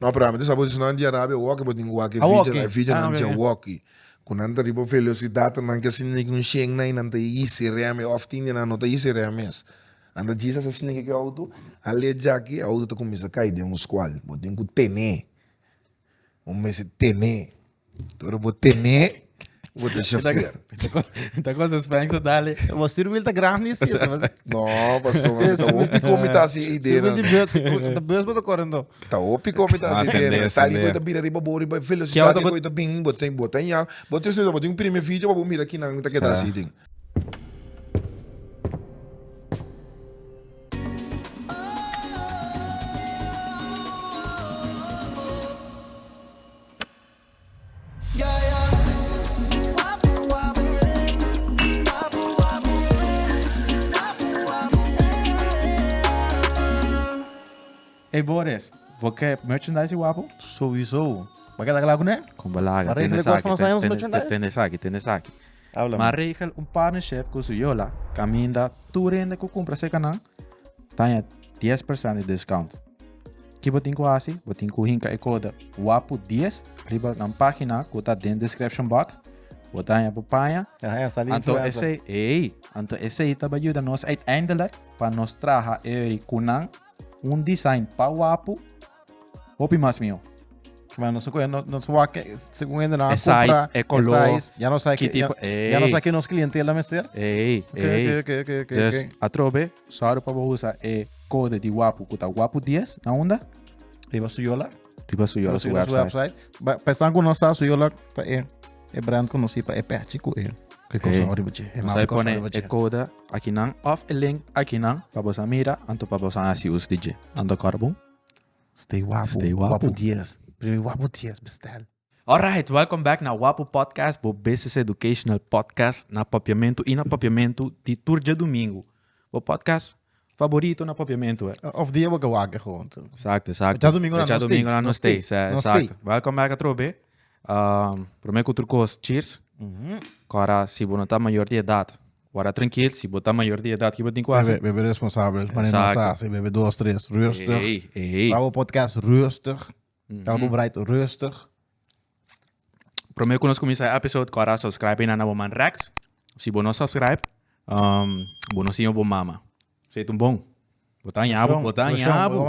No pero ami ta sa bo di esnan di arabia wokey bo tin ki wak e video e video nan dje wokey ku nan ta riba velocidad nan ke sinti neki un shen nan y nan ta yisi rem e of tin di nan no ta yisi rem mes nan ta djis asa sniki ku e auto ale djaki e auto ta kuminsa kai den un scual bo tin ku tene bo mester tene Tur bo tene, bo ta chofer. Ta cosa Spanx a dale. Bo stuur wil ta grandi si eso. No, paso, mi ta hopi komi ta si idee. Wil di beurt, de beurs bo ta correndo. Ta hopi komi ta si idee. Asende, Sa di asende. ko ta bira riba bo riba Keu velocidad ta di ko ta bin, bo ten bo ten ya. Bo ten sowieso bo tin un prime video pa bo mira kinan mi ta keda Sa. si tin. Ey Boris, bo ke merchandise di Wapo? Souiso. Bo a keda kla kuné? Kon bo laga? Tene esaki, tene esaki, tene esaki. Habla mi. Bo a regel un partnership ku Su Yola kaminda tur hende ku kumpra sekanan Taña dies persent di discount. Ki bo tin ku hasi? Bo tin ku hinka e kode wapu dies riba nan página ku ta den description box. Bo taña bo paña. Aha, ya sali Anto influencer. esei, ei, anto esei ta ba yuda nos uiteindelijk pa nos traha ei kunan un design pa wapu Hopi mas mio. Maar no se coge, no, no se va que, según él, no E size, compra, e color, e size, ya no sabe ki que, tipo- ya, ya no Ey. sabe que nos clientela mester. Ey, Ok, ey. ok, ok, ok, ok, Dus, ok. atrobe, sorry pa bo usa e code di Wapu, ku ta Wapu 10, na unda? Riba su yola. Riba su yola, su Riba su website. website. Ba- Pestan ku no sa su yola, ta e, e brand conocí pa e pechi ku e. Ke cosa Ey. oribo che. E Nos mapa hay cosa pone oribo e che. code akinan of e link akinan pa bosa mira anto pa bosa hasi uso di dje. Ando kòrbo. Stay wapu. Stay wapu. Wapu dies. Primi wapu dies bestel. Alright, welcome back na Wapu Podcast, bo business educational podcast na Papiamentu i na Papiamentu di tur djadumingu. Bo podcast faborito na Papiamentu, e. Of di e bo ke wak e gewoon tu. Exacto, exacto. Djadumingu nan no stay. Djadumingu nan no stay, sa, No stay. exacto. Welcome back atrobe. Um, prome ku tur kos, cheers. Kora, si bo no ta mayor di edad, Wara trankil, si bo ta mayor di edad kiba tin ku hasi? Bebe bebe responsabel, mane no asa hasi, bebe dos tres, rustig. Tabata bo podcast rustig, tabata bo braid rustig. Prome ku nos kuminsá e episode ku a dá subscribe na bo man Rex. Si bo no subscribe, bo no siña bo mama. Sey tun bon. Bo ta aña bo, bo ta aña bo.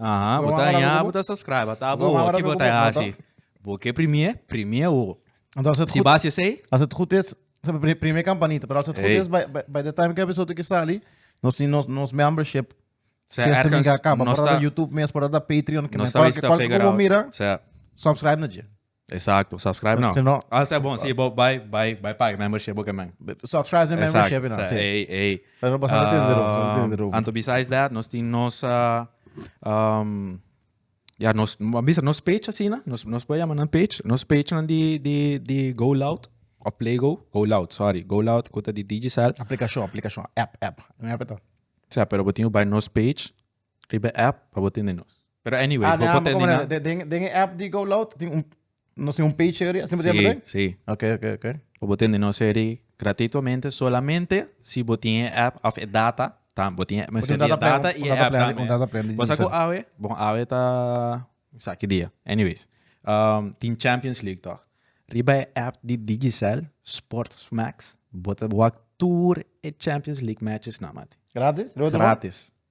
Aha, bo ta aña bo ta subscribe. Ata bo ki bo ta hasi. Bo ke primié, primié bo. Si base esey. As het gud is, primié campanita, pero as het gud is by the time ki episodio ki sali, nos membership system ga kaba. Por dat ta YouTube mes, por dat ta Patreon, kende kal ku bo mira, subscribe na dje. Exacto, subscribe now. Si no- Ah, sa bon, si bo bai, bai, bai paga membership bo kemen. Subscribe na membership Exacto, na. sa, ey, ey. Pero boso no tin di rubo, boso no tin di rubo. Anto besides that, nos tin nos, ah, um, ya nos, a bisa nos page asina, nos, nos por yama nan page, nos page nan di, di, di Go Loud, of Playgo, Go Loud, sorry, Go Loud ku ta di Digicel. Aplikashon, aplikashon, app, app. Un app e ta. Sa, pero bo tin ku bai nos page. Riba e app pa bo tende nos. Pero anyways, Ah, bo na, por ma tende como na... na- de- den- den e app di Go Loud, tin un- nos tin un page area, así me dice, Sí, ¿verdad? sí. Ok, ok, ok. Pa bo tende nos eri gratuitomente, solamente si bo tin e app of e data, ta, bo tin e, Bo tin mester tin e data plan, data un- i un e data app plan di- tambe. un data plan di Bo sa ku user. awe, bon awe ta, sa ki dia. Anyways, um, tin Champions League tòg. Riba e app di Digicel, Sports Max, bo ta wak tur e Champions League matches nan, mati. Gratis? Gratis.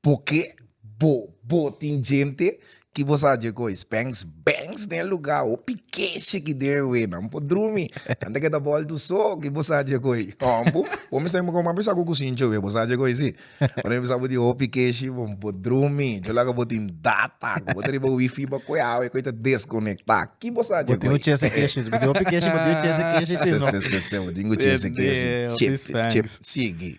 Porque bo bo tin djente ki bo sa dje kois Banks Banks den luga hopi keshi ki den we nan por drumi anta ke ta bol tu so ki bo sa dje koi hombo bo mester mi koman bisa ku kusincho we bo sa dje koi si ora mi bisa bo tin hopi keshi bo bo drumi dje laga bo tin data ku bo ta riba wifi bakue awe koi ta deskonekta ki bo sa dje koi. Bo tin ku chese keshi si bo tin hopi keshi bo tin ku chese keshi si no sesese bo tin ku chese keshi chip chip sigi.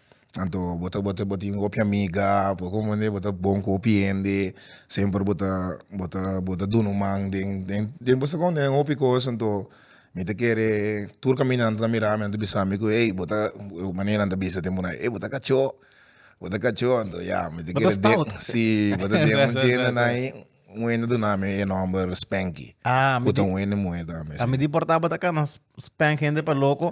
Anto bo ta bo ta bo tin hopi amiga por con bo ta bon cu hopi hende semper bo ta bo ta bo ta duna un man den den den bo secon den hopi cos anto mi ta kere tur caminante ta mira mi ta bisami cu ey bo ta ey manera nan ta bisa den bonan ey bo ta cacho bo ta cacho anto ya mi ta kere den si bo ta den un chenda nai un hende a dunami e nomber spanky cu ta un hende muhé tambe si. Midi por ta bo ta cana spank hende pa loco.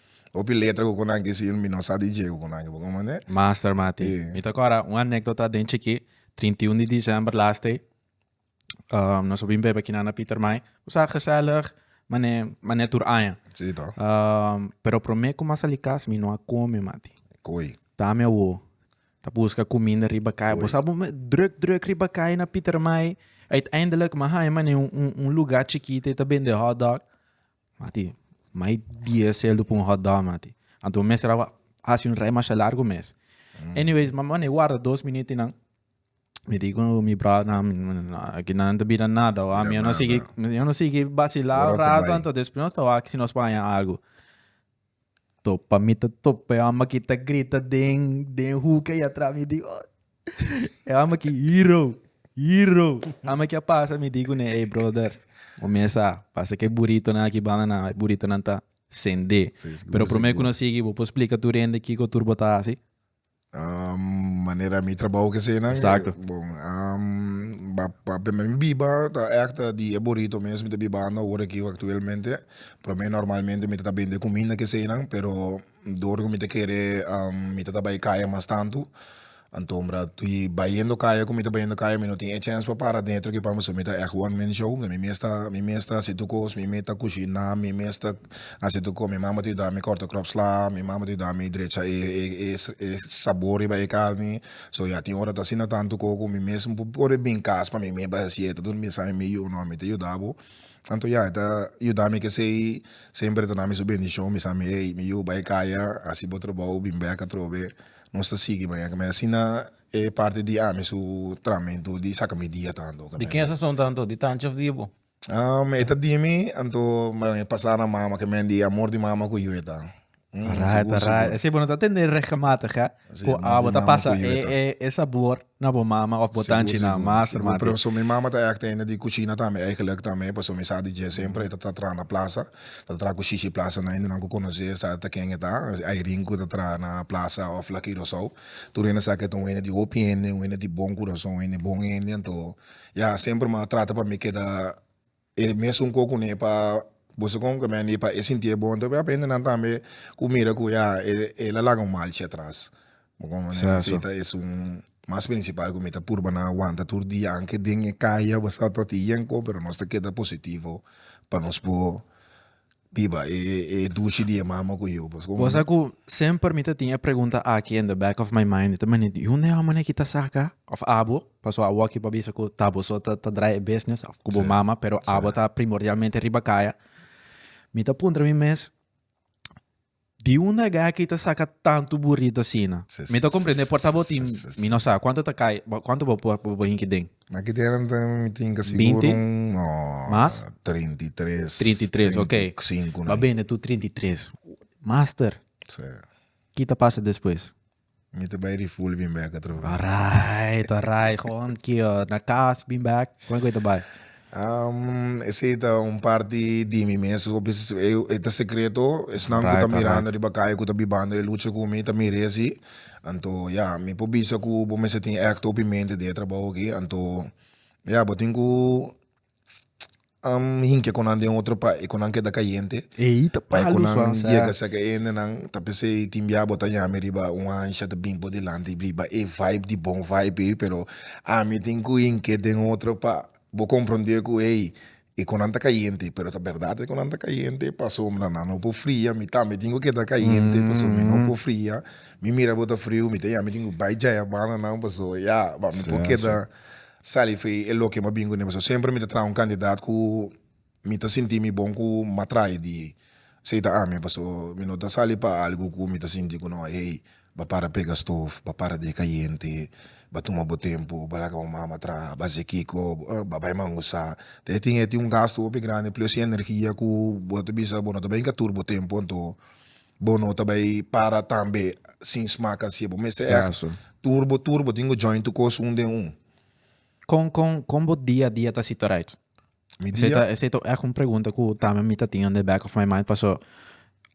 Hopi letra cu cu nan kiss y mi no sa di djego cu nan kiss, bo comprende? Master mati. Mi ta cora un anecdota den chiki, trinta y un di december last day, nos a bin bebe aki na na Pietermaai. Cu sa gezellig, mane, mane tur aña. Si toh. Pero prome cu mi a sali cas, mi no a come mati. Koi. Ta mi awo, ta busca cuminda riba cay. Bo sa bo me druk, druk riba cay na Pietermaai. Uiteindelijk mi a haya mane un, un, un lugar chikito y ta bende hotdog. Mati, mai dies seldo pa un hot dog mati. Anto mester a hasi un rei masha largo mes. Anyways, mama ne warda dos miniti nan. Mi di ku mi brothernan, aki nan ta bira nada wak. Mi a no sigui, mi a no sigui basila un rato anto despues nos ta wak si nos paña algu. To pa mi ta top e hama ki ta grita den den hoek ey atras mi di oh e hama ki hero hero hama ki a pasa mi di kune ey brother o mi esa pasa ke buritonan aki bandanan e buritonan ta sende pero prome ku no sigui bo por splika tur hende kiko tur bo ta hasi. manera mi trabou kesenan Exacto. bon um, pa, pa p'e mi biba ta ekta di e burrito mes mi ta bibando awor aki aktuelmente prome normalmente mi ta ta bende kuminda kesenan pero dor ku mi ta kere um mi ta ta bai kaya mas tantu anto mira y bayendo kaya ku mi ta bayendo kaya mi no tin e chèns pa para adentro aki pasobra mi ta èk one man show mi mes ta mi mes ta hasi tur kos mi mes ta kushina mi mes ta Así tur cu mi mama ta yuda mi corta crop sla, mi mama ta yuda mi drecha e e e sabor riba e carni, so ya tin ora ta asina tantu cu cu mi mes por por a bin cas pa mi mes pa haci e ta dor bisa mi yu no mi ta yuda bo, anto ya e ta yuda mi kesey semper ta nami su bendicion bisa mi ey mi yu bai caya haci bo trabao bin bek atrobe nos ta sigui baya me asina e parti di ami su trahamento di saca mi dia tanto. Di ken sazon tanto? Di tanchi of di bo? E ta di mi, anto m'a pasa na mama ke men di amor di mama ku yu e ta. Alright, alright. Esei bo no ta tende regelmatig, hè? Ku a bo ta pasa e sabor na bo mama òf bo tanchi na master, mati. Sigur, sigur. Pasobra mi mama ta èk tende di kushina tambe, èigelik tambe, pasobra mi sa di dje semper e ta tra traha na plasa, e ta traha ku shishi plasa na hindenan ku konos'é, e sa ta ken e ta, es Irene ku ta traha na plasa òf Laki Rosou. Tur hende sa ke e ta un hende di hopi hende, un hende di bon kurason, un hende bon hende, anto Ya semper m'a trata pa mi keda e mesun ku kune pa boso kon ke mende pa e sinti e bon tapi a p'e hende nan tambe ku mira ku ya e la laga un malchi atras si ta esun mas prinsipal ku mi ta purba nan wanta tur dia aunke den e kaya a bostad tabata yen ko pero nos ta keda positivo pa nos por. Biba e dushi di e mama ku yu. Bo sa ku semper mi ta tin e pregunta aki in the back of my mind, mi ta mane di hunde awor manera ki ta saka of abo, paso awor aki por bisa ku ta bo so ta drai e business of ku bo mama pero abo ta primordialmente riba kaya. Mi ta puntra mi mes. Di unda e gaki ta saka tantu buritu asina? Mi ta comprende por ta bo tin, mi no sa cuantu ta cay, cuantu bo por bo hinki den. Na ki temp ta mi tinka sigur un Mas? treinta y tres, Treinta y tres, ok. treinta y cinco na Ba ahí. bende tu treinta y tres. Master, ki ta pasa despues? Mi ta bai refuel bin bek atrobe. Alright, alright. Gewoon kio na kas bin bek. Kon ku e ta bai? Um, esei ta un parti di mi mes, hopi s- e e ta secreto, esnan ku ta Alright, mirando alright. riba kai ku ta bibando e lucha ku mi ta mira e asi, anto ya mi por bisa ku bo mester tin act hopi mente di e trabaho aki, anto ya bo tin ku Am hink'e con nan den otro país cu nan keda cayente pa cu nan yega sec e hende nan ta pens'ei tin bia bo ta yami riba un hansha ta bini bo dilanti riba e vibe di bon vibe ei pero ami tin cu hink'e den otro pa bo comprende cu ey e cu nan ta cayente pero ta berdad e cu nan ta cayente pasobra nan no por fria mi tambe tin cu keda cayente pasobra mi no por fria mi mira bo ta frio mi ta yami tin cu bay jaya banda nan pasobra ya mi por keda Sally, Fe e loke mi a bin ku Neva so semper mi ta traha un kandidat ku mi ta sinti mi bon ku mi a traha e di esei ta ami paso mi no ta sali pa algu ku mi ta sinti ku no ey ba para pega stof, ba para deka yente, ba tuma bo tempu, ba laga bo mama traha, ba hasi kiko, ba bai mangu sa, te e tin e tin un gastu hopi grandi plus e energia ku bo ta bisa bo no ta bai enka tur bo tempu anto. Bo no ta bay para tambe sin smaak asie. Bo mester echt Justo. tur bo tur. Bo tin go join tu cos un den un. Con con con bo dia a dia ta situarait? Mi Esei dia, ta, esei ta echt un pregunta cu tambe mi ta tin on the back of my mind paso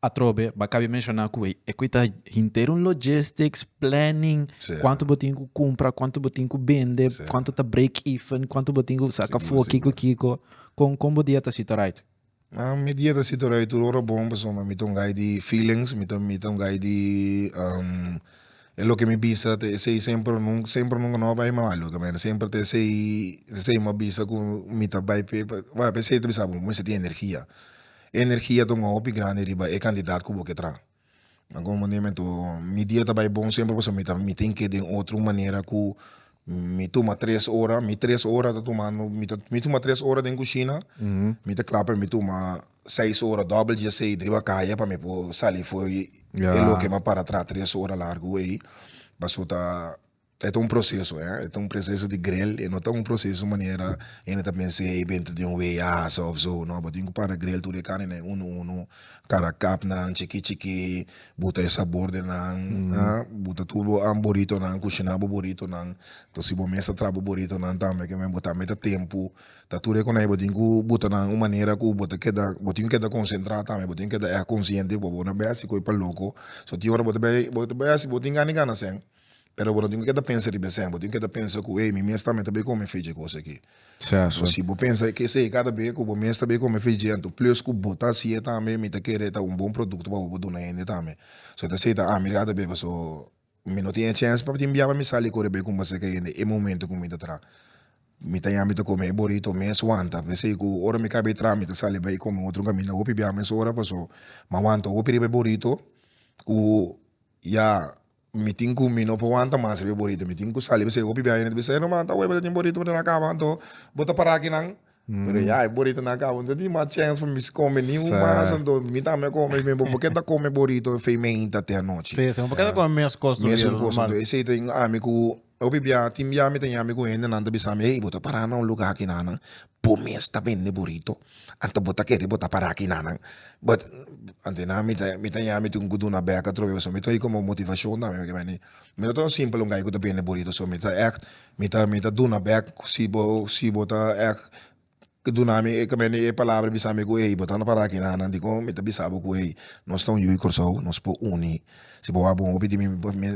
atrobe bo a cabe menciona cu e equi ta henter un logistics, planning, Sí. cuanto bo tin cu cumpra, cuanto bo tin cu bende, Sí. cuanto ta break even, cuanto bo tin cu saca Sí, fo, sí, kiko bro. kiko. Con con bo dia ta situarait? Nan mi dia ta situ rei tur ora bon pasobra mi ta un guy di feelings mi ta un guy di e loke mi bisa ta esey semper o nunca semper o nunca no a bai malo ta mira semper ta esey ta esey mi a bisa ku mi ta bai p'e esey ta bisa bo bo mester tin energia, energia ta un hopi grandi riba e cantidad ku bo ke traha. Na algun momentu mi dia ta bai bon semper pasobra mi ta mi tin ke den otro manera ku mi tuma tres ora mi tres ora ta tumando mi ta mi tuma tres ora den kushina mi ta kla pa mi tuma seis ora dòbel diezesei driba kaya pa mi por sali for e loke mi a para traha tres ora largu ei paso ta E ta un proseso eh, e ta un proseso di grel, e no ta un proseso manera hende ta pensa ey dentro di un weeyasa of so, no bo tin cu para grel tur e carnenan uno uno, cara capnan chiki chiki, buta e sabordenan ah, buta tur bo an burritonan, cushina bo burritonan, entonces si bo mes ta traha bo burritonan tambe que men bo ta mete tempo, ta tur e coney bo tin cu buta nan un manera cu bo ta keda, bo tin keda concentra tambe, bo tin keda esta consciente pa bo no bay asi coey pa loco, so tin ora bo ta bay, bo ta bay asi bo tin gana y gana sey. pero bo no tin cu keda pensa riba esey bo tin keda pensa cu ey mi mes tambe ta bay come e feijie cosa aki so si bo pensa ki esey cada bey cu bo mes ta bay come feijie anto plus cu bo ta haci'e tambe mi ta kere ta un bon producto pa bo bo duna hende tambe so ta esey ta ami cada bey pasobra so mi no tin e chance pa tin bia pa mi sali cor bay cumbase ca hende e momento cu mi ta traha mi ta yami ta come e burrito mes wanta pa esey cu ora mi cay bay traha mi ta sali bay come otro caminda hopi bia mes ora pasobra mi a wanta hopi riba e burrito cu Ya, mi tin cu mi no por wanta mas riba e borito, mi tin cu sali bisai hopi biaha, e yende ta bisa, e Román ta webel, e tin borito, pero no a caba, anto bo ta para akinan? Pero ya, e borito no a caba, mi no tin mas chance pa mi come ni un mas, anto mi tambe a come, mi bo, bo kier ta come borito feimenta te anochi? Mesun cos tu di e Román. Mesun cos, anto esey ta ami cu Hopi bia tin bia mi ta yami ku hende nan ta bisami ey bo ta para na un luga aki nanan bo mes ta bende burito anto bo ta kere bo ta para aki nanan but anto nan mi ta mi ta yami tin ku duna bek atrobe pasobra mi ta oí komo motivashon tambe ke beni mi no ta un simpel un guy ku ta bende burito so mi ta act mi ta mi ta duna bek si bo si bo ta act. ke duna mi e kabende e palabra bisa mi ku ey bo ta no para aki nanan dikon mi ta bisa bo ku ey nos ta un yu Kòrsou nos por uni si bo a bon hopi di mi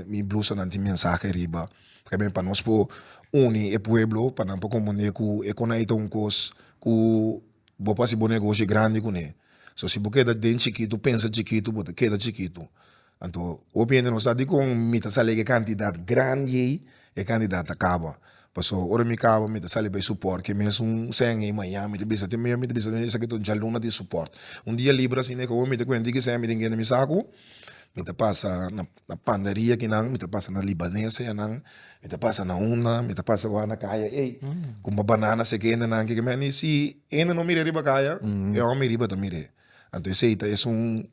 mi blusanan tin mensahe riba tambe pa nos por uni e pueblo pa nan por komprende ku e konai ta un kos ku bo por hasi bo negoshi grandi kuné so si bo keda den chikitu pensa chikitu bo ta keda chikitu. Anto, hopi hende no sa dikon mi ta sali e kantidat grandi ei, e kantidat ta kaba, pasobra ora mi kaba mi ta sali bay suport ke mes un sèn ei mañana mi ta bisa te mi, mi ta bisa te esaki ta un djaluna di suport, un dia libra asina ei kahomi ta kuenta di kisè mi tin kende mi saku, mi ta pasa na na pandaria kinan, mi ta pasa na libanesa yanan, mi ta pasa na unda, mi ta pasa wak na kaya ei, kumpa banana seki hende nan ke keme, ni si hende no mir'e riba kaya, e hòmè riba ta mir'e, anto esei ta esun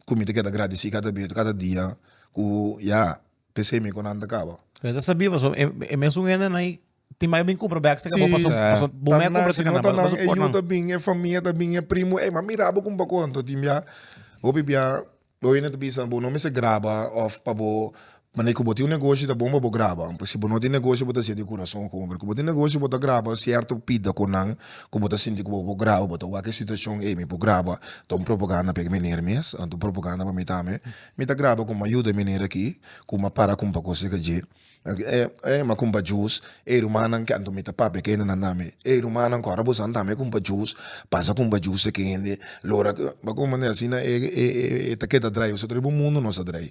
ku mi ta keda gradisí kada biaha, kada dia ku ya p'esei mi ku nan ta kaba. Mei ta sabí pasobra e e mesun hendenan ahí tin mai bin kumpra bèk sèke bo Sí, paso paso bo ta mei a nan, kumpra si sèke no nan ta paso nan, paso e por yu nan. ta bin, e famia ta bin, e primu, ey m'a mira bo kumpa konta tin biaha hopi biaha bo hende ta bisa bo no mester graba òf pa bo Manera ku bo tin un negoshi ta bon pa bo graba, pues si bo no tin negoshi bo ta hasié di kurason komo, pero ku bo tin negoshi bo ta graba sierto pida ku nan ku bo ta sinti ku bo por graba, bo ta wak e situashon ey mi por graba ta un propaganda pa e miner mes anta un propaganda pa mi tambe, mi ta graba kuma yuda e miner aki kuma para kumpa kos di kandje ma kumpa jus, ey rumannan ke anto mi ta papia ke hende nan tambe, ey rumannan ku ora bo sa tambe kumpa jus pasa kumpa jus seki hende lo ora ku bo ta keda drai nosotros riba un mundu nos ta drai.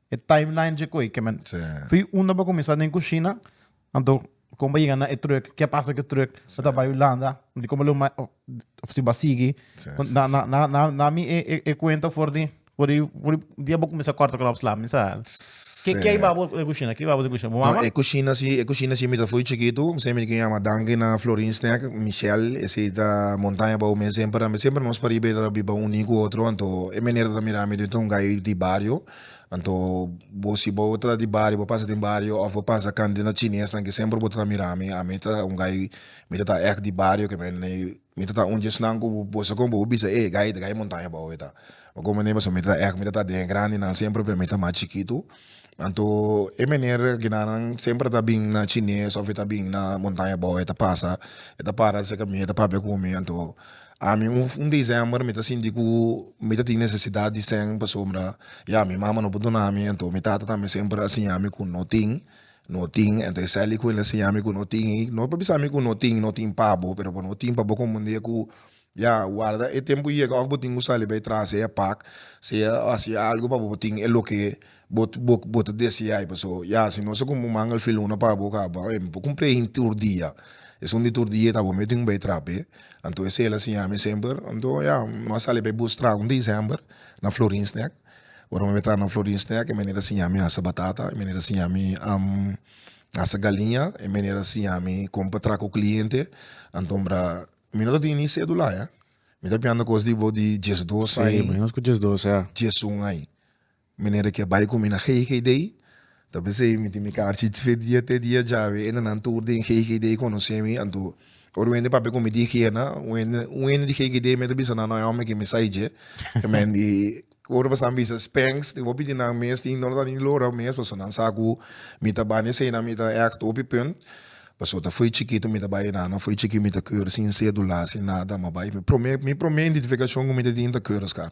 e timeline dje koe ke men fi unda bo kuminsá den kushina anto kon bo yega na e trùk ke a pasa ku e trùk bo ta bai hulanda di kon bo lo mai òf si bo a sigui na mi e kuenta for di for di for di dia bo kuminsá kòrta kròp sla mi sa ke ke a iba bo den kushina ke a iba bo den kushina bo mama e kushina si e kushina si mi ta fui chikitu ose mi ke yama danki na florin snèk mishèl esei ta montaña bou mi semper a mi semper nos pariba e ta biba uní ku otro anto e manera ta mira mi ta un gai di bario Anto bo si bo ta di bario bo pasa den bario of bo pasa kant di na chinesnan ke semper bo ta mira mi ami ta un guy mi ta ta echt di bario ke me mi ta ta un dje esnan ku bo sa kon bo bisa ey guy ey guy montaña bou eta bo kon mane pasobra mi ta ta echt mi ta ta den e grandinan semper p'e mi ta mas chikitu anto e mener ginanan semper a ta bin na chines of a ta bin na montaña bou e ta pasa e ta para cerca mi e ta papia ku mi anto Ami un un december mi ta sinti ku mi ta tin nesesidat di sèn pasobra ya mi mama no por dunami anto mi tata tambe semper a siñami ku no tin no tin anto esei aliku el a siñami ku no tin i no por bisa mi ku no tin no tin pa bo pero bo no tin pa bo komo un dia ku ya warda e tempu yega òf bo tin ku sali bai trasi e pak sea hasi algu pa bo bo tin e loke. Bo bo ta deseai paso ya si no se como un manga el filuna pa bo caba oye mi por cumpla hin tur dia esun di tur dia e ta bo mi tin bay trape anto ese el a siña mi semper anto ya no a sali bay bus traha un december na florin snack ora mi bay traha na florin snack e meneer a siña mi hasa batata e meneer a siña mi ham hasa galiña e meneer a siña mi con pa traha cu cliente anto bra mi no ta tin ni cedula ya mi ta pianta cos di bo di diesdos aña diesun aña. Manera ki a bai ku mi na GGD ta pesei mi tin mi kar chi fe dia te dia djawe e nannan tur den GGD a konosé mi anto ora wende papia ku mi di kierna wende un hende di GGD mi ta bisa nan no e hòmber ke mi sai dje te men di ora pasanan bisa Spens i bo pidi nan mes tin dor nan tin lora mes paso nan sa ku mi ta bani asina mi ta èkt hopi punt paso ta foi chikito mi ta bai nan no foi chikito mi ta keur sin sedula sin nada mi a bai mi prome mi prome identifikashon ku mi ta tin ta keur oscar.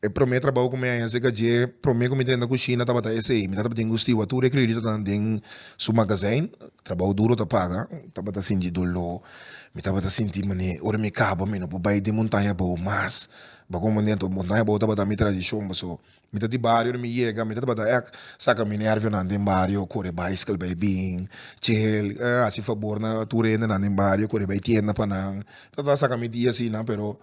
E promé trabou ku mi a hasi eka dje, promé ku mi drenta kushina tabata esei. Mi tabata tin gustiba tur e krioyotanan den su magazein. Trabou duro ta paga, tabata sinti doló, mi tabata sinti manera ora mi kaba mi no por bai den montaña abou mas. Montaña abou tabata mi tradishon pasobra mi ta di bario, ora mi yega mi ta tabata èk saka mi nèrvionan den bario, kore baisikal bai bin, chel, hasi fabor na tur e hendenan den bario kore bai tienda pa nan. Mi ta trata saka mi dia asina pero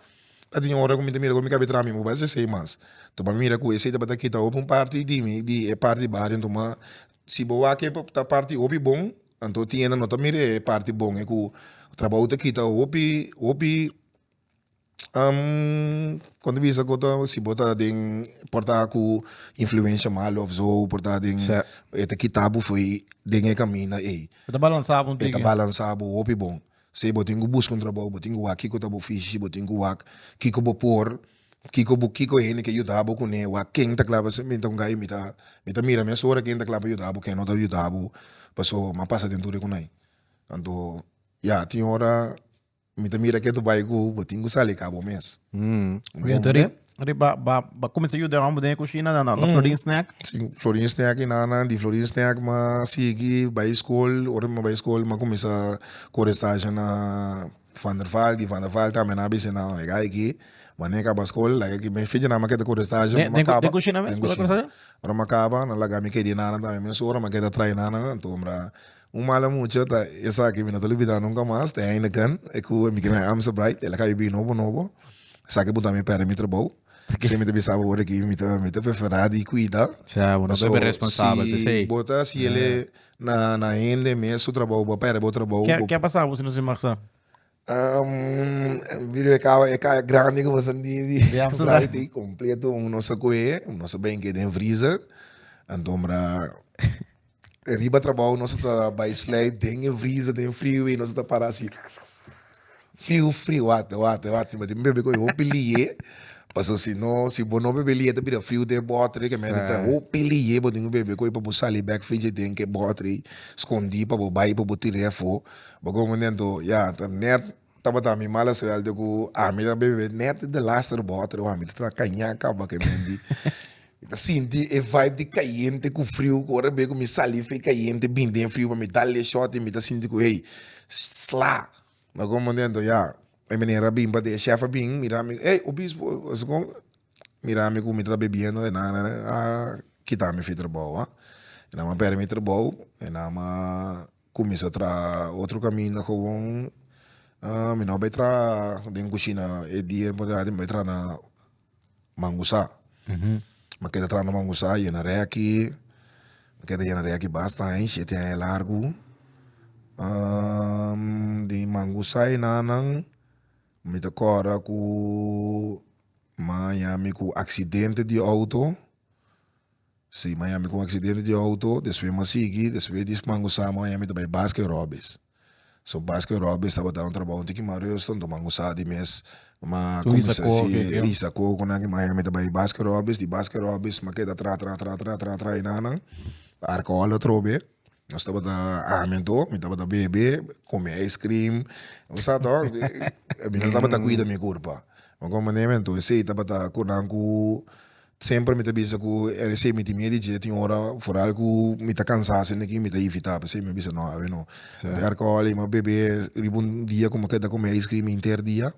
ta tin ora cu mi ta mira cu mi cabe traha mi muba esey mas to pa mi mira cu esey tabata kita hopi un parti di mi di e parti baha den tuma si bo wak e ta parti hopi bon anto tin e nan no ta mira e parti bon e cu trabajo ta kita hopi hopi con ta bisa cota si bo ta den por ta cu influencia malo of so por ta den e ta kita bo fooi den e caminda ey e ta balansa bo hopi bon. Si bo tin cu busca un trabou bo tin cu wak kico ta bo ofishi si bo tin cu wak kico bo por kico bo kico hende ke yuda bo cune wak ken ta clabe esei menta con gay mi ta mi ta mira mes ora ken ta clabe yuda bo ken no ta yuda bo paso mi a pasa den tur e cunay anto ya tin ora mi ta mira ke tu bay cu bo tin cu sali ca bo mes riba ba ba kuminsá yuda hombrenan den e kushina nan nan Florin Snack. Sí, Florin Snack i nan nan, di Florin Snack m'a sigui bai skol, ora mi bai skol m'a kuminsá kore stage na Van der Vaal, di Van der Vaal tambe nan a bisa nan e ga aki, wanda e kaba skol laga aki me fechi nan m'a keda kore stage ora m'a kaba, den kushina mes? den kushina, ora m'a kaba nan laga mi kedi nan nan tambe mes ora m'a keda traina nan anto mira Un mala mucha ta esaki mi no ta lubida nunka mas, ta Heineken, e cu e mi kende Amsterbrite, el a caya bibi nobo nobo, esaki a puntra mi pera mi trabou, p'esei mi ta bisa bo awor aki mi ta mi ta prefera di cuida, pasobra si bo ta haci ele na hende mes su trabou bo a pera bo trabou. Ke a pasabo si no si mag sa? Bido e kaba e kaya grandi ku boso di braai kompleto un nos a kohe nos a bring e den freezer anto mira riba trabou nos ta bai sleip den e freezer den friwei nos ta para si friu friu wata wata wata tin tin bebe ku e hopi lie paso si no si bo no bebe lie ta bira friu den botri ke mente ta hopi lie bo tin ku bebe ku e pa bo sali bek frigid den ke botri skondi pa bo bai pa bo tira e afo Bo go momento ya ta net tabata mi mala suelte ku ami ta bebe net de laster bòter wan mi ta traha kaña kaba ke bendi mi ta sinti e vibe di kayente ku friu ku ora mi wea ku mi sali fi kayente bini den friu pa mi dal e shòt mi ta sinti ku hey sla na algun momento ya e manera a bin pa den e shèf a bin mira mi ey obispo asikon mira mi ku mi ta bebiendo e nan a kita mi fi trabou e nan a pèrdè mi trabou e nan a. Cuminsa traha otro caminda gewoon mi no bay traha den cushina e dia mi traha mi bay traha na mangusa mi keda traha na mangusa yena reki mi keda yena reki bastain shete aña largo di mangusa enanan mi ta corda cu maya mi cu accidente di auto. Si Miami con accidente di auto despues mi a sigui despues di dies mango sama Miami mi ta bay Baskin Robbins so Baskin Robbins tabata un trabajo un tiki mas rusto enton mango sa di mes ma cuminsa si hisa coco nan ki Miami ta bay Baskin Robbins di Baskin Robbins mi a keda tra tra tra tra tra tra enanan arco al atrobe Nos tabata ami anto mi tabata bebe come ice cream u sa to mi no tabata cuida mi curpa mi come manera anto esey tabata cordami cu semper mi ta bisa cu era esey mi tin miedo di dje tin ora foral cu mi ta cansa asina ki mi ta evita pesey mi a bisa no awe no mi ta yara col mi a bebe riba un dia cu mi keda come ice cream henter dia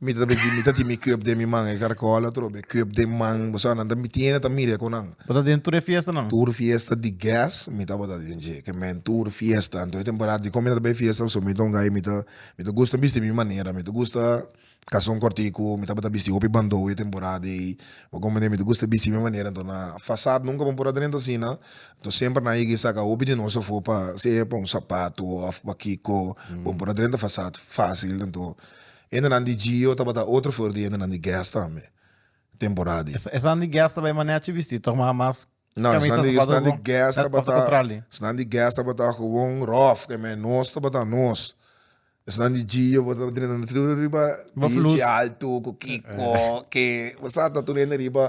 Mi ta begi mi ta tin mi cup den mi man e caracol atrobe e cup den man bo sa nan ta mi tiene ta mire cu nan. Bo ta den tur e fiesta nan? Tur fiesta di gas mi tabata den dje ke men tur fiesta anto e temporada dikon mi ta bai fiesta also mi ta un gai mi ta mi ta gusta bisti mi manera mi ta gusta kason kortiku mi tabata bisti hopi bandou e temporada ei bo kompende mi ta gusta bisti mi manera anto na fasad nunka bo por a drenta asina anto semper nan a yega a saka hopi di nos afo pa sea pa un sapatu of pa kiko bo por a drenta fasad facil anto Hendenan di Gio tabata otro for di hendenan di Guess tambe, temporada di. Esnan di Guess ta bai manera chi bisti, ta kuma mas camisa, zapato oko, net of ta contrali. Esnan di Guess tabata gewoon rof, ke me nos tabata nos. Esnan di Gio bo ta drenta na tribu riba beach alto ku kiko ke bo sa ta tur hende riba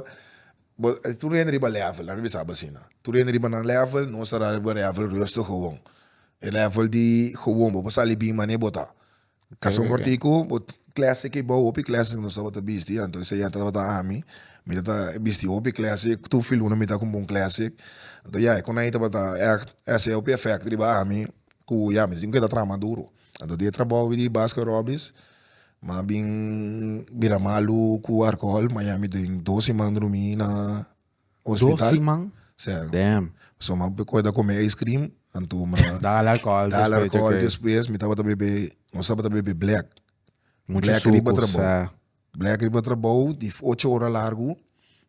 bo tur hende riba level, lami bisa bo asina. Tur hende riba nan level, nos ta riba level rustigo gewoon. E level di gewoon bo por sali bin mane bo ta. Casi un cortico, bo clase ki bo hopi clase nos tabata bisti anto esa ya tabata ami, mi ta bisti hopi clase tur fin luna mi ta con bon clase anto ya e conai tabata echt hesey hopi effect riba ami cu ya mi tin keda traha duro anto di e trabou di Basket Robbins mi a bin bira malu cu alcohol ma ya mi den dos siman drumi na Dos siman? Damn. So m'a kore ta come ice cream anto m'a dal alcohol dal alcohol despues mi tabata bebe nos tabata bebe black black riba trabao black riba trabao di ocho ora largo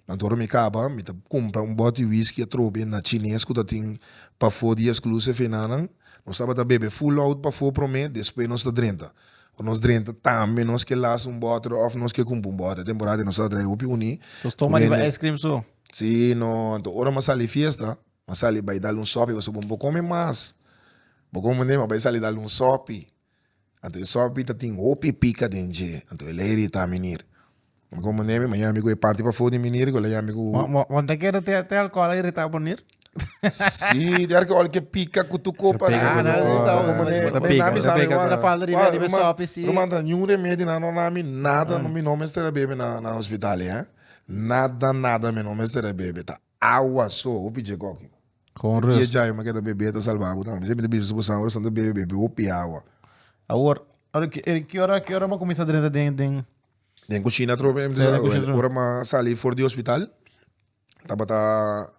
anto ora mi caba mi ta cumpra un bottle whiskey atrobe na chines cu ta tin pafo di exclusive enanan nos tabata bebe full loud pafo prome despues nos ta drenta cu nos drenta tambe nos ke las un bottle of nos ke cumpra un bottle temporada di nos drenta hopi uni Entonces toma riba ice cream su. si no anto ora mi a sali fiesta mi a sali bay dal un sopi pasobra bo no por come mas bo come mi a bay sali dal un sopi anto e sopi ta tin hopi pica den dje anto e lei riba ta minir Mi komo nebe, ma ya mi ku e parti pafó di mi nir ku la ya mi ku. Bo ta keda te te alcohol a irita bo nir? Si, te alcohol ke pika ku tu kop a pika ku tu kop. Ah, no, no, no. Ta pika, ta pika. Bo ta bisa mi falta di bebe riba sopi si. Ruman ta niun remedi nan no na mi nada mi no mester a bebe na hospital, eh. Nada, nada mi no mester a bebe ta. Awa so, hopi dje goki. Con rust. Dje djai make ta bebe ta salba bo tambe. Siempre ta bisa bo sangre, so ta bebe bebe hopi awa. Awor, ki ora ki ora bo cuminsa drenta den den. Den cushina atrobe, ora ma sali for di hospital tabata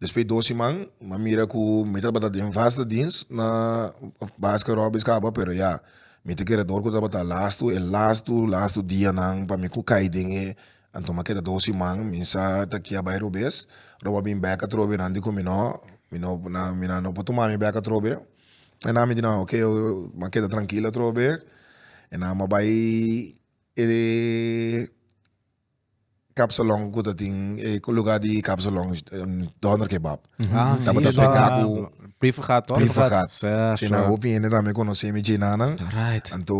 despues dos siman ma mira cu mi tabata den vasta dins na basket robbis caba pero ya mi ta kere dor cu tabata lastu e lastu lastu dianan pa mi cu cay den e Anto m'a keda dos siman mi sa ta aki a bai robes roba a bin bek atrobe nan di ku mi no mi no mi nan no por tuma mi bek atrobe e nan mi di nan oke m'a keda trankil atrobe e nan m'a bai e kapsalon ku ta tin e luga di kapsalon dòner kebab tabata prika ku prifergat si nan hopi hende tambe konosemi dje nanan anto.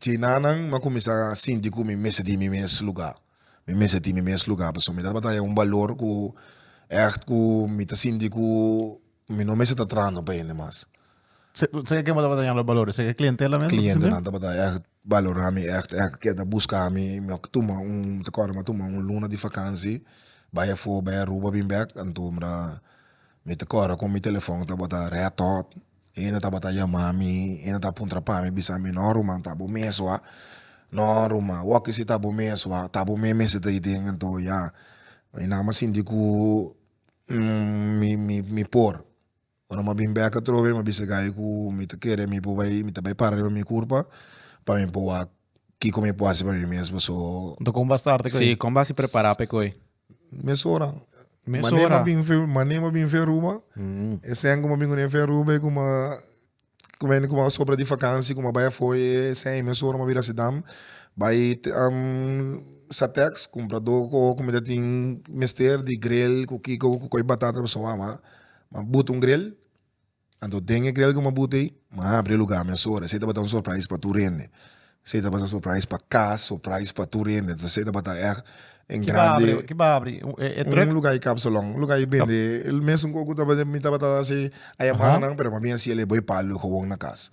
Djenanan, m'ha kuminsá sinti ku mi mester tin mi mes lugá. Mi mester tin mi mes lugá pasobra mi tabata haña un balor ku ègt ku mi ta sinti ku mi no mester ta trahando pa hende mas. Seke bo tabata hañando balornan? Seke klientela mes? Klientenan tabata ègt balorá mi, ègt, ègt ke ta buska mi. Mi oc tuma un, mi ta kòrda mi a tuma un luna di vakansi, bai afó, bai Aruba, bin bèk. Anto mi ta kòrda kon mi telefòn tabata red hot. Hende tabata yama mi, hende ta puntra pa mi, bisa mi, no Ruman, ta bo mes wak, no Ruman, wak si ta bo mes wak, ta bo mes mester ta aden anto ya, mi nan a sinti ku mi mi mi por, ora mi a bin bek atrobe mi a bisa gai ku mi ta kere mi por bai mi ta bai para riba mi kurpa pa mi por wak kiko mi por hasi pa mi mes paso. Enton kon bo a starte ku e? Sí kon bo a hasi prepara pa e ku e? Mes ora. Mes ora. Mane ma bin fe Aruba, e sen kuma bin fe Aruba e kuma kume kuma a sobra di vakansi kuma bai afo e sen e mes ora ma bira sidam bai sateks kumpra do koho ku mita tin mester di grel ku kiko ku koy batata pasobra a ma buton grel Anto den e grel ku mabuti ei m'a abri e lugá mesora. Esei tabata un surprise pa tur hende. Esei tabata un surprise pa kas, surprise pa tur hende. Entonces esei tabata ègt en grandi. Ki m'a abri? E trùk? Un lugá di kapsalòn. Un lugá di bende el mesun ku mi tabata hasi aya mannan pero m'a bin hasi el e boi palu, e gowon na kas.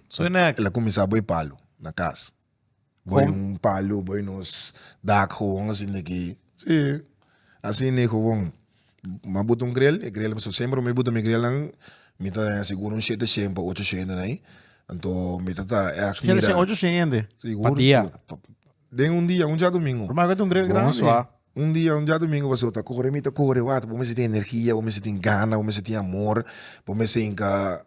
So e na ègt. El a kuminsá boi palu na kas. Boy un palo boy nos dak gowon asi ne ki si asi ne gowon ma buta un grel e grel pasobra mi semper mi buta mi grelnan mi ta den seguro un shete shen pa ocho shen den ai anto mi ta ta shete shen ocho shen hende pa dia den un dia un diadomingo. Un dia, un diadomingo pasó, ta kore mi ta kore wak, bo mester tin energia, bo mester tin gana, bo mester tin amor, bo mester hinka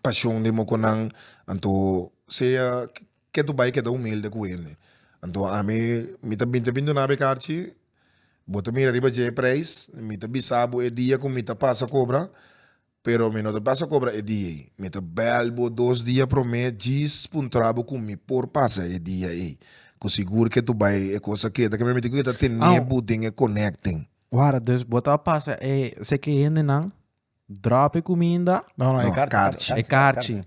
pashon den mokonnan, anto sea ke tu bai keda humilde ku hende, anto ami mi ta binti bin duna bekar chi, bo ta mira riba dje prijs, mi ta bisa bo e dia ku mi ta pasa kobra, Pero mi no ta basa cobra e dia ey. Mi ta bel bo dos dia prome djis puntra bo cu mi por pasa e dia ey. Cu sigur ke tu bay e cos a keda ke mi miti cu ke ta tene bo den e connecting. Wara, dus bo ta pasa e seke hendenan drop e cuminda? No, no, e carchi. E carchi.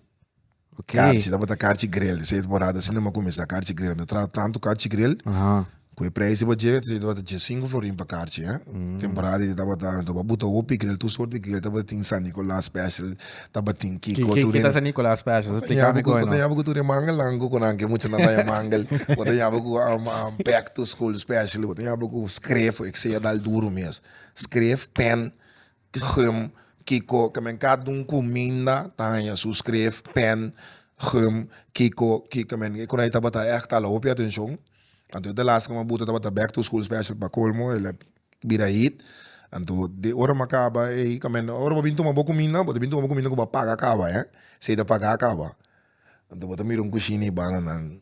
Okay. Karchi, tabata karchi grel. Te siente por hada sina ma kuminsá karchi grel. Mi a traha tantu karchi grel, Aha. ku e preis di bo djega, te siente tabata djesinku florin pa karchi. eh. Temporada di tabata, anto bo buta hopi grel, tur sort di grel tabatin, San Nicolas special, tabatin Ki, kiko, ki, tur ki ta ene. San Nicolas special? Tabata Splica mi yabu ku, koe tabata no. yabu ku tur e mangel langu ku nan ke mucha nan ta e mangel. Tabata yabu ku am, am, back to school special, tabata yabu ku skref, e kseja dal duru mes. Skref, pen, Gum, Kiko kimenka dun ku minda ta haña su skref? Pèn, Gum, Kiko ki kimen e konai tabata ègt ala hopi atenshon. Anto e ta lasta kuma buta tabata back to school special pa kolmo el a bira hit. Anto de ora m'a kaba ei kimen ora bo bin tuma bo kuminda bo ta bin tuma bo kuminda ku bo a paga kaba eh si ei ta pagá kaba. Anto bo ta mira un kushina i bananan.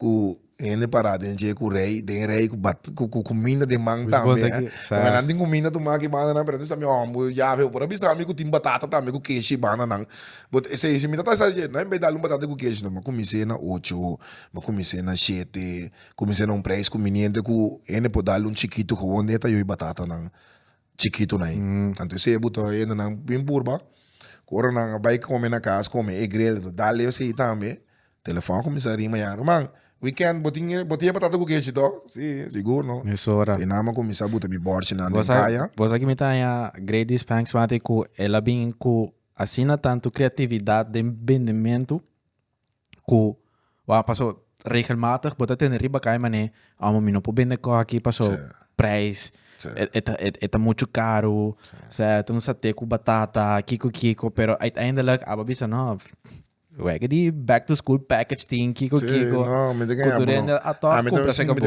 Ku hende pará den dje ku rei, den e rei ku bat ku ku kuminda den man tambe, e. Pasobra nan tin kuminda tu maki bandanan, pero mi sa mi hòmber, Yaveh, bo por a bisa mi ku tin batata tambe ku keshi bandanan. But esei, si mi ta trahisa di dje, nan en bes di a lo un batata ku keshi no, mi a kumins'é na ocho, mi a kumins'é na shete, kumins'é na un preis kuminente ku hende por dal un chikitu, ho, hond'é ta yo'i batatanan? chikitunan ei. Anto esei e buto hendenan bin purba, ku ora nan a bai kome na kas, kome e grel, lo dal lei esei tambe. Telefòn a kuminsá a ringba ya, ruman, wikènt bo tin bo tin e patata ku kechi tò? Si, sigur no. Es ora. I nan bo a kuminsá buta mi bòrchinan den kaya. Bo sa ki mi ta haña Grady Spanks mati ku el a bin ku asina tantu kreatividat den bendementu ku wou paso regelmatig bo ta tende riba kai manera amo mi no por bende kos aki paso prijs e ta muchu karu sea ta un sate ku batata kiko kiko pero uiteindelijk abo a bisa no wega di back to school package tin kiko kiko ku tur hende a tor kupra seka bo.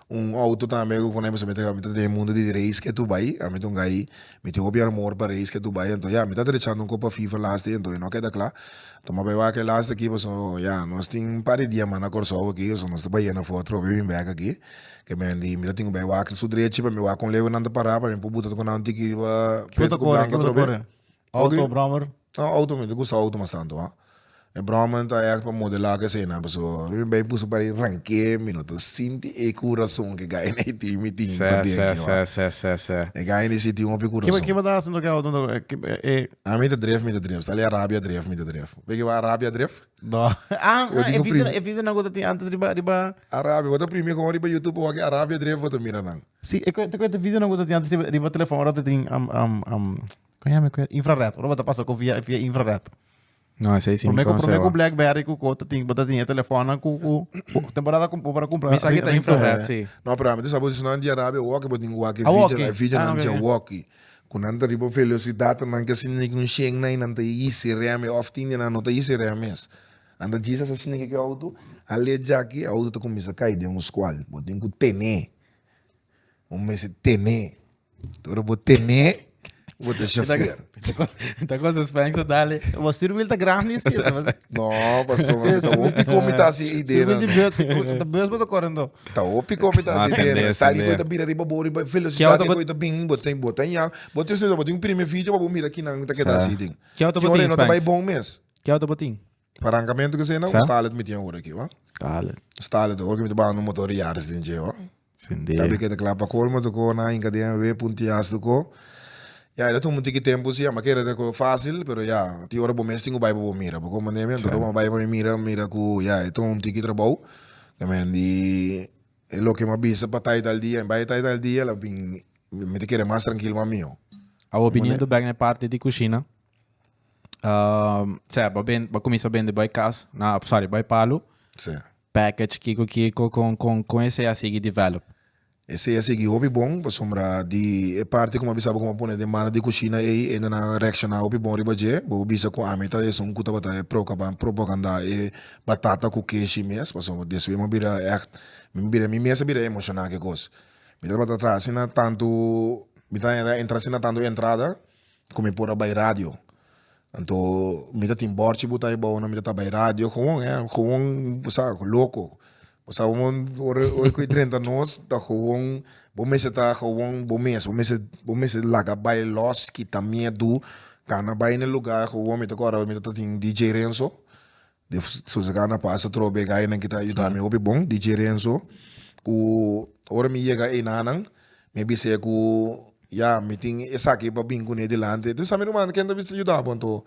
Un auto tambe cu con eso mi ta cami ta den mundo di race ke Dubai ami ta un guy mi tin hopi armor pa race ke Dubai entonces ya mi ta drechando un kop pa fifa lasti entonces no a keda cla ta maba ewa ke lasti aki pasobra no ya nos tin un par di dia mas na Kòrsou aki pasobra nos ta bayena for atrobe bin bek aki ke me di mi ta tin bay wak su drechi pa mi wak con lewe nan ta para pa mi por buta tucu nan tiki riba Puerto Blanco atrobe. Auto brommer? No auto mi ta gusta auto mas tanto a e brommer ta echt pa modela kesena paso ora mi bay pusu pari ranke mi no ta sinti e curason ke guy ne tin mi tin pa dentro se se se se e guy ne si tin hopi curason kiba ta hasi ke auto a mi ta drift mi ta drift sali arabia drift mi ta drift bay kiba arabia drift no e video nan ku ta tin antes riba riba arabia bo ta primi kon riba youtube bo wak arabia drift bo ta mira nan si e ku e video nan ku ta tin antes riba telefon ora ta tin Con llama cu infrared. Ora bota pasa cu via via infrared. No, ese sí Promé mi cu promé cu conoce. BlackBerry cu cu tin bota tin telefono cu cu cu- temporada com para comprar. Mi sa que ta infrared, sí. No, pero ame tu sabe si nan di Arabia walkie, bo tin walkie Ah, video, walkie. na video Ah, nan ok, dje ok. walkie. Ku nan ta riba velocidad, nan ke sinti neki un shen na i nan ta yisi rem, e òf tin di nan no ta yisi rem mes. Nan ta djis asa sinti neki auto, a le djaki, auto ta kuminsa kai den un skual. Bo tin ku ten'é. Bo mester tene. Ora bo tene, bo ta shofer. Ta cosa Spain sa dale. Bo stuur wil ta grandi si esa. No, paso mi ta hopi komi ta si idee. Stuur wil di beurt, ta beurt bo ta korendo. Ta hopi komi ta si idee. Mas sali bo ta bira riba bo riba velocidad di bo ta bini. Bo ta bo ta ya. Bo ta espreso bo tin un prime video pa bo mira kinan ta keda si tin. Kiau ta bo tin Spain? Kinan no ta bai bon mes. Kiau ta bo tin? Parankamentu ke sena un stalet mi tin ora aki hoor. Stalet. Stalet hoor ke mi ta baha un motor yaris den dje hoor. Sende. Tambe ke ta kla pa colmo toko na hinka den en we puntias toko. Ya e ta tuma un tiki tempo si ama kere ta ko facil pero ya tin ora bo mes tin ku bai pa bo mira bo komo ne'e mi anto ora bo a bai pa mi mira mira ku ya e tuma un tiki trabou men di e loke mi a bisa pa taita al dia mi bai taita al dia la bin mi ta kere mas trankil mas mihó. Awo opinion ta bek na e parti di kushina. Um, sea, ba, ben, ba comienza a vender bij kas, na, sorry, bij palo, Sí. package, kiko, kiko, con, con, con ese a sigui develop. Ese ya sigui hopi bon, pasobra di e parti como bisa bo como pone den banda di cocina ei, ende nan reacciona hopi bon riba dje. Bobo bisa cu ami ta esun cu tabata e proca ban propaganda e batata cu keshi mes, pasobra despues mi a bira ècht, mi bira, mi mes a bira emociona ki cos. Mi tabata traha asina tanto, mi ta entra asina tanto entrada. cu mi por a bay radio anto mi ta tin borchi bu ta aybao nan mi ta ta bay radio gewoon eh gewoon bo sa loco bo sa ora ora ora cu e drenta nos ta gewoon bo mester ta gewoon bo mes bo mester bo mester laga bay los kita miedu cana bay ne lugar gewoon mi ta acorda mi ta tin DJ Renzo Di Susegana pasa atrobe e gayanan ki ta yuda mi hopi bon, DJ Renzo, ku ora mi yega ei na nan mi a bis'e ku ya mi tin esaki pa bin kune dilanti. Mi sa mi ruman ken ta bisa yuda bo anto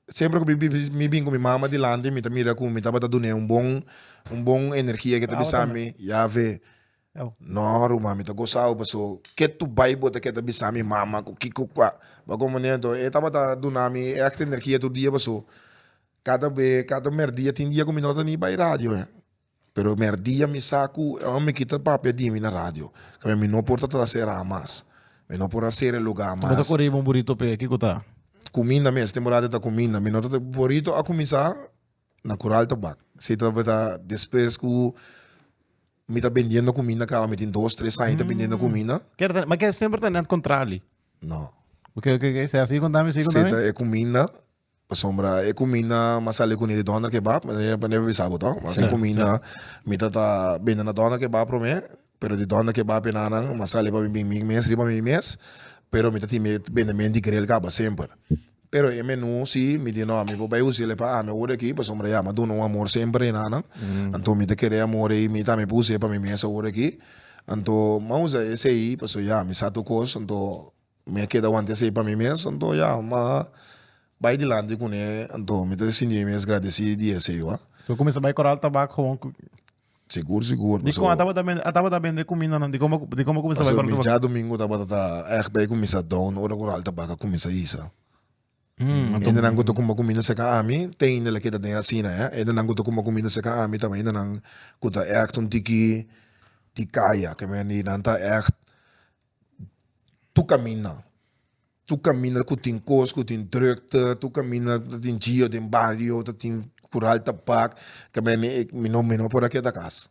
semper ku mi bin ku mi mama dilanti mi ta mira ku mi tabata dun'e un bon un bon energia ke ta bisa mi yawe no ruman mi ta gosau paso ke tur bai bo ta ke ta bisa mi mama ku kiko kua ba komprendenan to e tabata duna mi e akte energia tur dia paso Kada be kada merdia tin dia ku mi no ta ni bai radio he pero merdia mi sa ku e home kita papia di mi na radio kaminda mi no por ta trasera mas mi no por a sera e luga mas. Tambe ta kore riba un burito p'e kiko ta? Kuminda mes temporada ta kuminda mi no ta burito a kuminsa na kural ta bak si ta bata despues ku mi ta bendiendo kuminda kaba mi tin dos tres aña ta bendiendo kuminda. Ker ta ma ke semper ta net kontrali. No. Oke oke oke siga siga kontami siga kontami. Si ta e kuminda Pasobra e cuminda mas sali cuni di Donder Kebab, mi no a bisa bo to, mas e cuminda mi ta ta bende na Donder Kebab prome, pero di Donder Kebab e nannan mas sali pa mi bin mi mes riba mi mes, pero mi ta timi bende men di grel caba semper, pero e menu si mi di no mi por bay usa ele pa ami awor aki pasobra ya mi a duna un amor semper e nannan, anto mi ta kere e amor ey mi tambe por usa e pa mi mes awor aki, anto mi a usa esey pasobra ya mi sa tur cos anto Mi a keda wanta esey pa mi mes, anto ya, ma bay dilanti cu ne, anto mi ta sinti mi mes gradeci di esey wak. Cu cuminsa bay Corral Tabak gewoon cu. Sigur, sigur. Dicon a tabata bende, a tabata bende cuminda nan? Dicon bo, dicon bo cuminsa bay Corral Tabak? Pasobra mi dja domingo tabata ta echt bay cuminsa down ora Corral Tabak a cuminsa hisa. Ende nan cu ta cuma cuminda seca ami, teinda la keda den asina, eh. Ende nan cu ta cuma cuminda seca ami ta ende nan cu ta echt un tiki di caya, keme nan ta echt Tu caminda, tu caminda cu tin cos cu tin drukte, tu caminda cu tin gio den bario, ta tin cural tabac, ta me mi mi no mi no por a keda cas,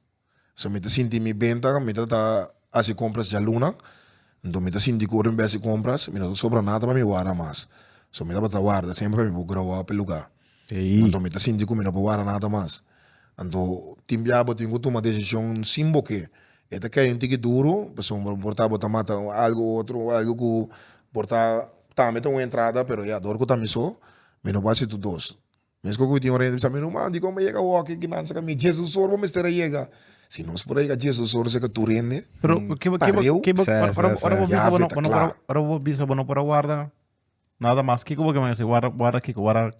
so mi ta sinti mi ben ta mi ta ta hasi compras dialuna, dor mi ta sinti cu ora mi bay hasi compras mi no ta sobra nada pa mi wara mas, so mi tabata warda semper pa mi por grow up e lugar Ey. Anto mi ta sinti cu mi no por wara nada mas. Anto tin bia bo tin cu tuma decision sin bo ke. E ta key un tiki duro pasobra bo por ta bo ta mata algo u otro, algo cu por ta tambe ta un entrada pero ya dor cu ta mi so mi no por haci tur dos. Mescu cu tin un rente bisa ruman dicon bay yega awor kinansa cami Jesus sor bo mester a yega. Si no por a yega Jesus sor seca tur rende. Pero ke bo ke bo ke bo ora bo bisa bo no ora bo bisa bo no por a warda Nada mas kiko bo kemei si warda warda kiko warda.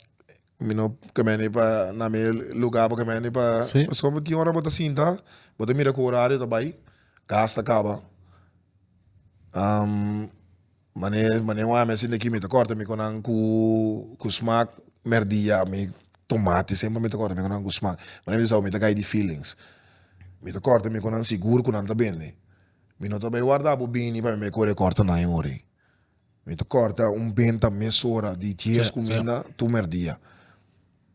Mi no kemeni pa na mi luga bo kemeni pa si pasko tin ora bo ta sinta bo ta mira ku orario ta bai gas ta kaba mane mane un ami asin aki mi ta kòrda mi ku nan ku ku smak merdí ya mi tomati semper mi ta kòrda mi ku nan ku smak mane mi bisao mi ta kai di feelings mi ta kòrda mi ku nan sigur ku nan ta bini mi no ta bai warda bo bini pa mi bai kore kòrda nan jun ori. Mi ta corta un benta mesora di dies cu minda tur merdia.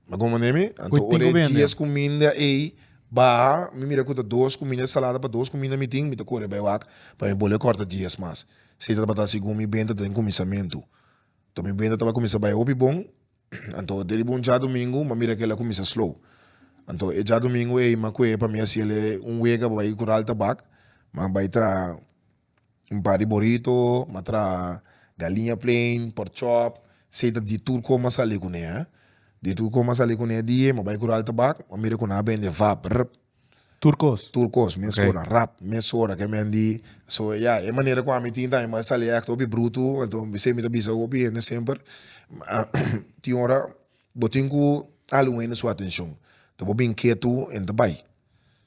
Bo comprende mi? Anto ora e dies cu minda ey baha, mi mira cu ta dos cu minda ensalada pa dos cu minda mi tin, mi ta cora bay wak pa mi bolbe corta dies mas. Si tabata asi cu mi benta den cuminsamentu. Anto mi benta taba cuminsa bay hopi bon, anto deriba un djadomingo mi mira cu el a cuminsa slow. Anto e djadomingo ey mi a coge pa mi haciel un wega pa bay cural tabak, mi a bay traha. Un par di borito, m'a traha galiña plain, pork chop, sei ta di tur con m'a sali cu ne, di tur con m'a sali cu ne di, m'a bay Cural Tabak, m'a mira cu nan a bende vap, rrrp, Tur cos? tur cos, mes ora, rap, mes ora ke men di, so ya, e manera cu ami tin tambe, m'a sali echte hopi brutu, enton bisei mi ta bisa cu hopi hende semper, tin ora bo tin cu algu a hende su atencion, ta bo bin ketu, hende ta bay.